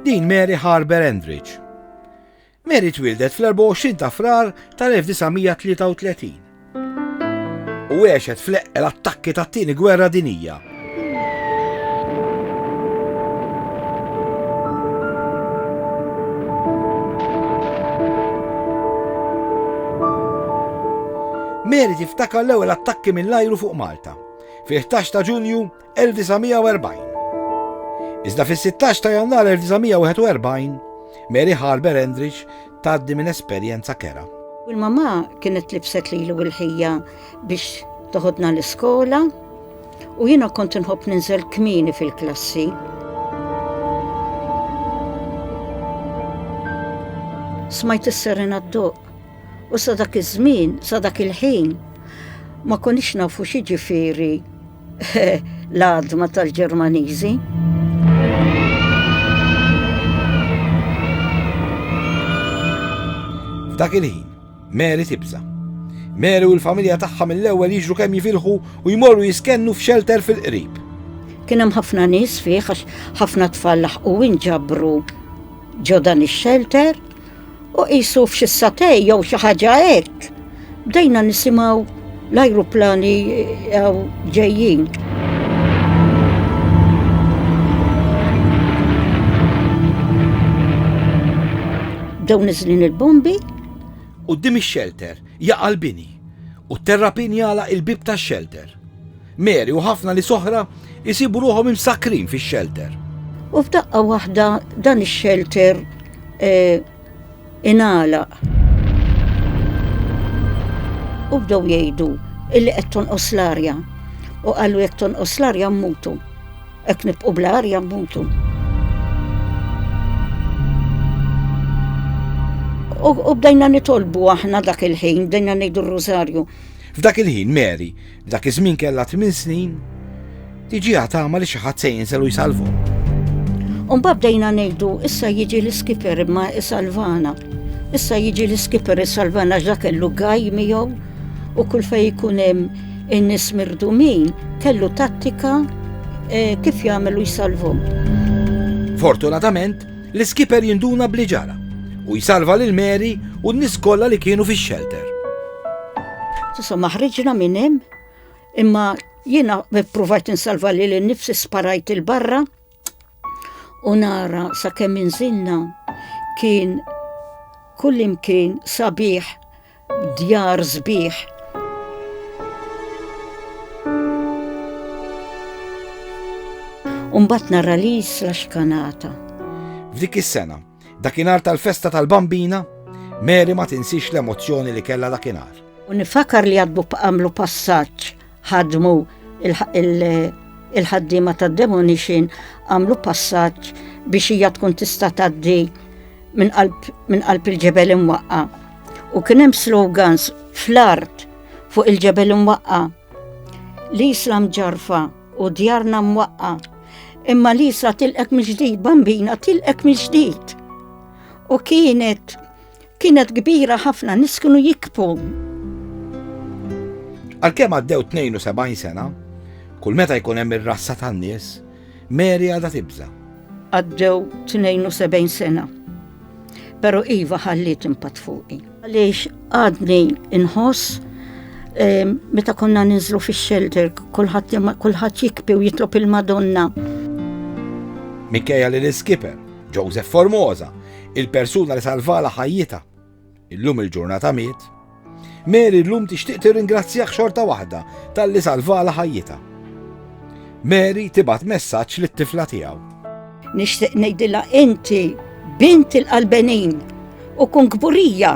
Din Mary Harber Endrich. Mary twildet fl-24 ta' frar tal-1933 u għexet fl-eqqel attakki tat-tieni gwerra dinija Mary tiftakar l-ewwel attakki mill-ajru fuq Malta. Fil-11 ta' Ġunju 1940. Iżda fis-16 ta' Jannar 1941, Mary Harber Endrich tgħaddi minn esperjenza kera. Il-mamma kienet libset lilu l-ħija biex toħodna l-iskola u jiena kont inħobb ninżel kmini fil-klassi. Smajt is-serena d-doq u sa dak iż-żmien, sa dak il-ħin, ma konix nafu xi ġifieri L-għadma tal-Ġermaniżi. F'dak il-ħin, Mary tibża. Mary u l-familja tagħha mill-ewwel jiġru kemm jifilħu u jmorru jiskennu f'xelter fil-qrib. Kien hemm ħafna nies fih għax ħafna tfal laħqu inġabru ġo dan ix-xelter U qisu f'xi satej jew xi ħaġa hekk, bdejna nisimgħu l-ajruplani eh, ġejjin. Bdew niżlin il-bombi. U dim ix-xelter jaqal bini u terrapin jala il-bib tax-xelter. Mary u ħafna nies oħra jsibu ruħhom imsakkrin fix-xelter. U f'daqqa waħda dan ix-xelter eh, ingħalaq. U bdew jgħidu illi qed tonqos l-arja. U qalu jekk tonqos l-arja mmutu. Hekk nibqgħu bl-arja mmutu. U bdejna nitolbu aħna dak il-ħin, bdejna ngħidu r-rużarju. F'dak il-ħin Mary Dak iż-żmien kellha tmien snin, tiġiha tama li xi ħadd se jinżel u jsalvhom. Umba bdejna ngħidu, issa jiġi l-iskiper imma isalvana. Issa jiġi l-iskiper isalvana ġa kellu gaj miegħu u kull fej jkun hemm in-nies mirdumin kellu tattika eh, kif jagħmel u jsalvhom. Fortunatament, L-iskipper jinduna b'li ġara u jsalva lil Mary u n-nies kollha li kienu fix-xelter. Insomma, ħriġna minn hemm, imma jiena provajt insalva lil innifsi sparajt il-barra u nara sakemm inżilna kien kullimkien sabiħ djar sbieħ. Umbat nara li jisla xkanata. F'dik is-sena, dakinhar tal-festa tal-bambina, Mary ma tinsix l-emozzjoni li kella dakinhar. U nifakar li għadbu b'qamlu passaġġ ħadmu il-ħaddiema tad-demonition għamlu passaġġ biex hija tkun tista' tgħaddi minn qalb il-ġebel imwaqqa. U kien hemm slogans fl-art fuq il-ġebel imwaqqa. L-Islam ġarfa u djarna mwaqqa. Imma l-Isla tilqek mill-ġdid, bambina tilqek mill-ġdid. U kienet Kienet kbira ħafna nies kienu jikbu. Għalkemm għaddew 72 sena, kull meta jkun hemm ir-rassa tan-nies, Mary għadha tibża. Għaddew 72 sena. Pero Iva ħalliet impatt fuqi. Għaliex għadni inħoss eh, meta konna ninżlu fix-shelter, kulħadd jikpi u jitlob il-Madonna. Mikkeja li l-iskiper, Joseph Formosa, Il-persuna li salvala ħajjita, illum il-ġurnata miet, Mary llum tixtieq tirringrazzjah xorta waħda tal-li salvala ħajjita. Mary tibat messaġġ lit-tifla tiegħu. Nixtieq ngħidilha inti bint il-qalbenin u kun kburija